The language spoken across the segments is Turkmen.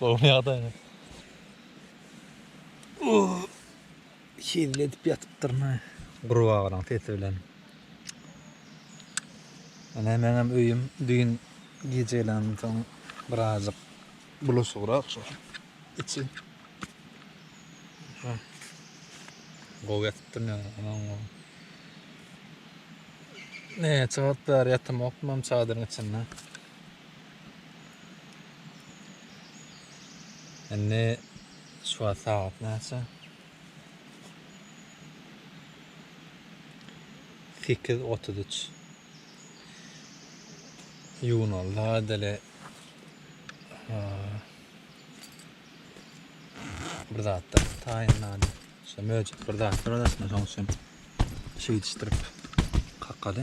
Gowy ýagdaýda. Hezil edip ýatypdyryn-a. Gurbagalaň sesi bilen. Ine meňem öýüm düýn gijeden soň birazjyk bulaşygrak şu içi. Gowy ýatypdyryn ýaly, aman gowy. Näçe wagt bäri ýatamokdym hem çadyryň içinde. Indi şu wagt sagat näçe? 8.33. Ýuwunaldy gaýdale. Bir zatlar taýynlady. Şu möjek bir zatlar arasynda şoň üçin şeýdişdirip kakady.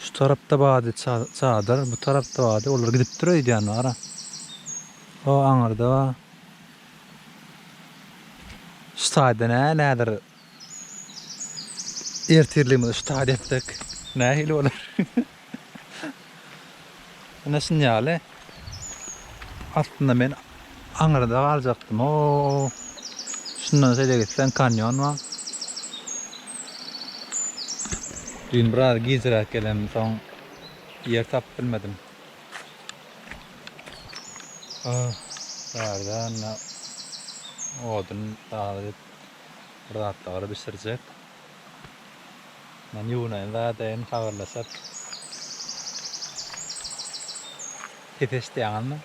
Şu tarapda bady çadyr, bu tarapda bady. Olar gidipdir öýdýän bara. O aňyrda şu taýda nä nädir ertirligimizi şu taýda etdik. Nähili bolar? Ine şun ýaly. Aslynda men aňyrda galjakdym. O şundan şeýle gitseň kanýon bar. Bu gün biraz gijräk gelenimsoň ýer tapyp bilmedim. Bärde indi odun dagyp bir zatlar bişirjek. Men ýuwunaýyn zadaýyn habarlaşarys. Pes eşidýäňizmi?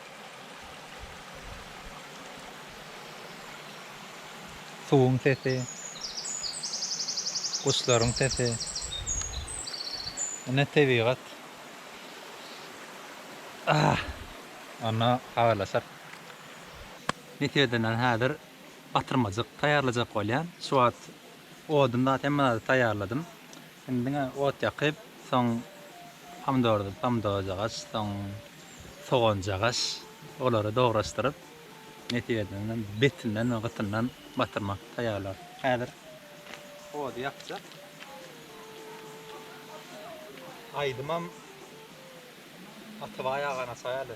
Suwuň sesi. Guşlaryň sesi. Ine tebigat. Ah! Onda habarlaşarys. Netejedenem häzir batyrmajyk taýýarlajak bolýan. Şu wagt Odun zat hemme zady taýýarladym. Indi diňe ot ýakyp, soň pomidordy, pomidorjagaç, soň soganjagaç, olary dograşdyryp, nesip edende betinden we gytyndan batyrmak taýýarlar. Häzir ody ýakjak. Aýdymam Atabaý agany açaýaly.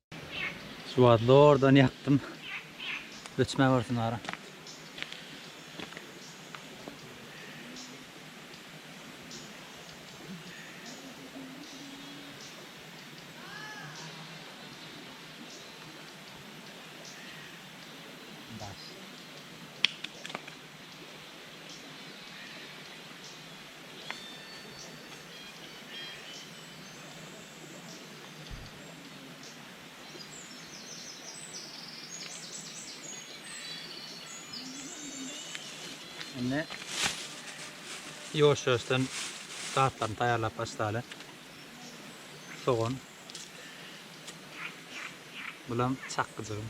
Şu wagt zordan ýakdym. Öçmän barsin gara. Indi ýuwaş-ýuwaşdan zatlaryny taýýarlap başlaly. Sogan. Bulam çakgyjygym.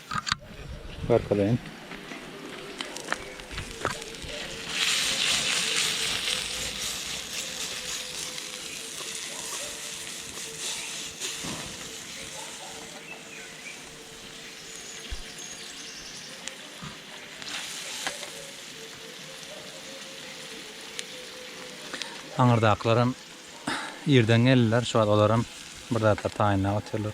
Arkadaýyn. Aňyrdakylaram irden geldiler, şu wagt olaram bir zatlar taýynlap otyrlar.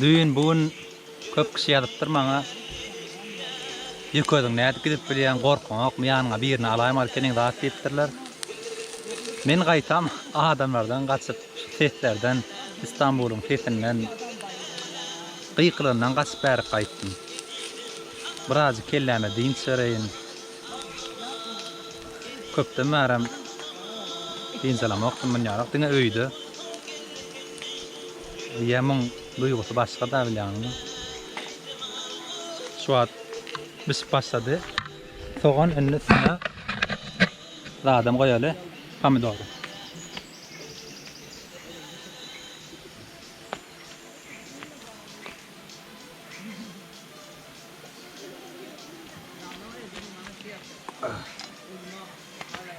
Düýn bu gün köp kişi ýazypdyr maňa Ýük özüň nädip gidip bilýäň gorkyňokmy ýanyňa birini alaýmaly seniň zat diýipdirler. Men gaýtam adamlardan gaçyp şu seslerden Istanbulyň sesinden gykylandan gaçyp bärik gaýtdym. Birazjyk kelläme dynç bereýin. Köpden bärem dynç alamokdym munýarak diňe öýde. Ýa muň duýgusy başga-da bilýäňmi? Şu wagt bişip başlady. Sogan indi üstüne zadam goýaly, pomidory.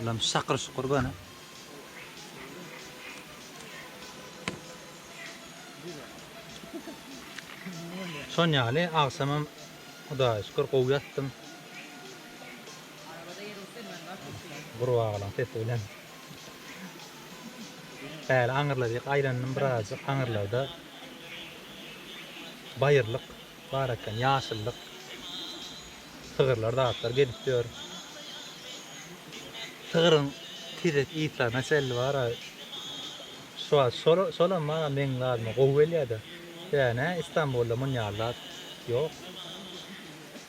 Ulan şakır şukur gana. Son ýaly agşamam Hudaýa şükür gowy ýatdym. Gurbagalaň sesi bilen. Bäri aňyrlaryk aýlandym birazjyk. Aňyrlarda baýyrlyk bar eken, ýaşyllyk. Sygyrlar, zatlar gezip ýör. Sygyryň tizek ýytlaryna çenli bar. Şu wagt şol, şolam maňa meň zadyma gowy gelýär-de. Sebäbi näme, Istanbulda munýa zat ýok.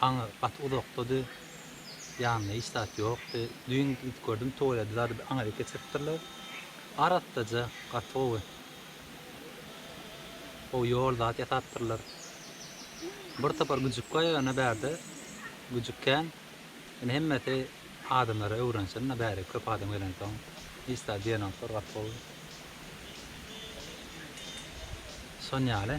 Aňy gaty uzakdady. Ýanynda hiç zat ýokdy. Düýn gidip gördüm, tuweledi zady bir aňa eltip geçiripdirler. Arassaja, gaty gowy. Gowy ýol zat ýasapdyrlar. Bir topar güjük bar ýöne bärde. Güjük kän. Ýöne hemmesi adamlara öwrensin-de bäri köp adam gelensoň. Hiç zat diýenoklar, gaty gowy. Şon ýaly.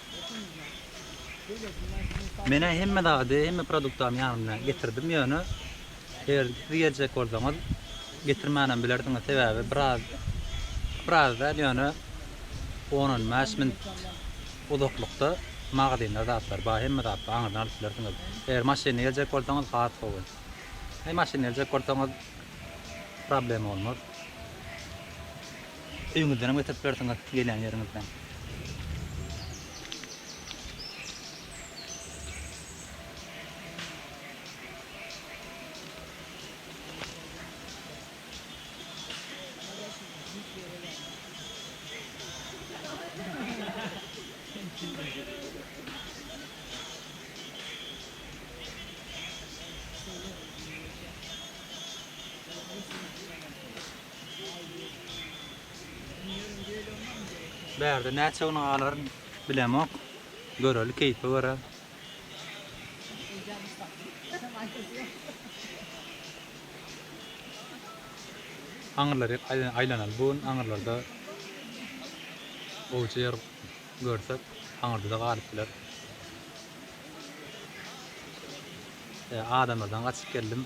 Menä hemme zady, hemme produktamy ýanymda getirdim, ýöne eger siz geljek bolsaňyz, getirmänem bilersiňiz, sebäbi biraz, biraz däl, ýöne on-on bäş minut uzaklykda magazynda zatlar bar, hemme zat bar, aňyrdan alyp bilersiňiz. Eger maşynly geljek bolsaňyz, has gowy. Eý, maşynly geljek bolsaňyz, problema bolmaz. Öýüňizdenem getirip bilersiňiz gelýän ýeriňizden. Bärde näçe gün galaryn bilemok. Göreli keýpe görä. Aňyrlar hep aýlanaly bu gün aňyrlarda gowja ýer görsek aňyrda-da galyp biler. E, adamlardan gaçyp geldim.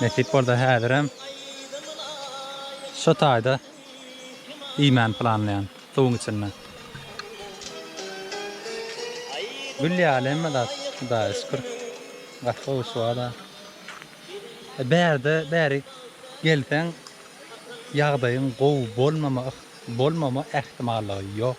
Nesip bolsa häzirem şu taýda iýmäni planlaýan suwuň içinde. Gül ýaly hemme zat Hudaýa şükür. Gaty gowy şuwada. Bärde bäri gelseň ýagdaýyň gowy bolmama bolmama ähtimallygy ýok.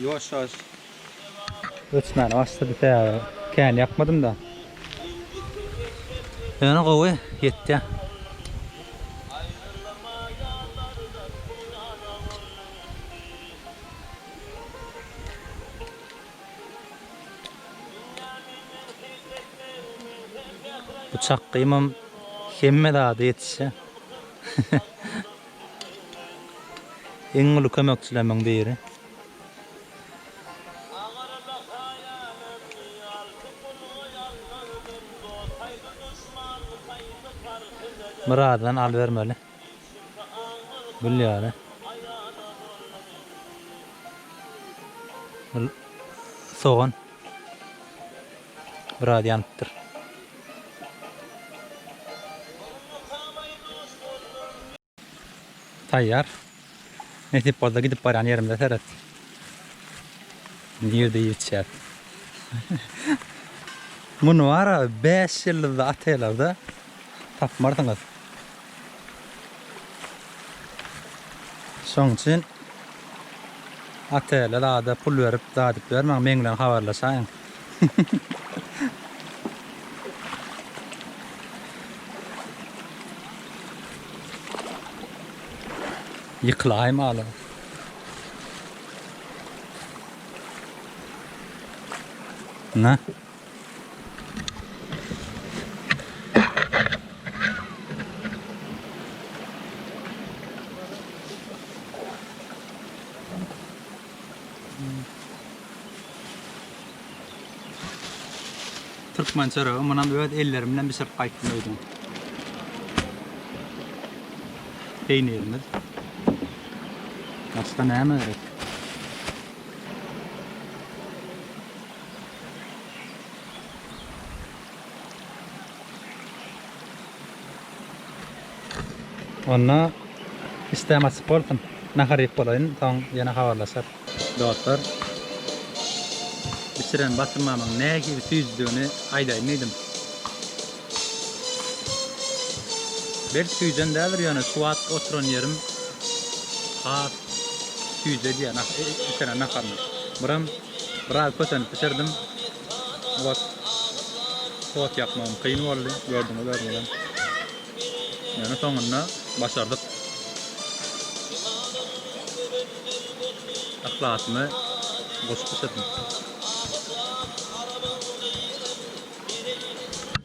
Ýuwaş ýuwaş öçmäne başlady sähra kän ýakmadym da. Ýöne gowy ýetýä. Bu çakgymam hemme zada ýetişýä. Iň uly kömekçilemiň biri. Myradydan al bermeli. Gül ýaly. Sogan. Biraz ýanypdyr. Taýýar. Nesip bolsa gidip barýan ýerimize seret. Nirde iýip içýär. Muny wara 5 ýyllyzly otellerde tapmarsyňyz. Şoň üçin otele zada pul berip zadyp bermäň, meň bilen habarlaşaýyň. Ýykylaý maly. Na. Türkmen çöregi munam öz ellerim bilen bişirip gaýtdym öýden. Peýnirimiz. Başga näme gerek? Onda isdäm açyk bolsun. Nahar iýip bolaýyn, soň ýene habarlaşarys. Dostlar, bişiren basymamyň nähili süýjüdigini aýdaýyn diýdim. Berk süýjen däldir, ýöne şu wagt oturan ýerim has süýji edýär, içeren naharyny. Buram. Biraz kösenip bişirdim. Ot, ot ýakmagym kyn boldy. Gördüňiz özüňizem. Ýöne soňunda başardyk. Yhlasymy goşup bişirdim.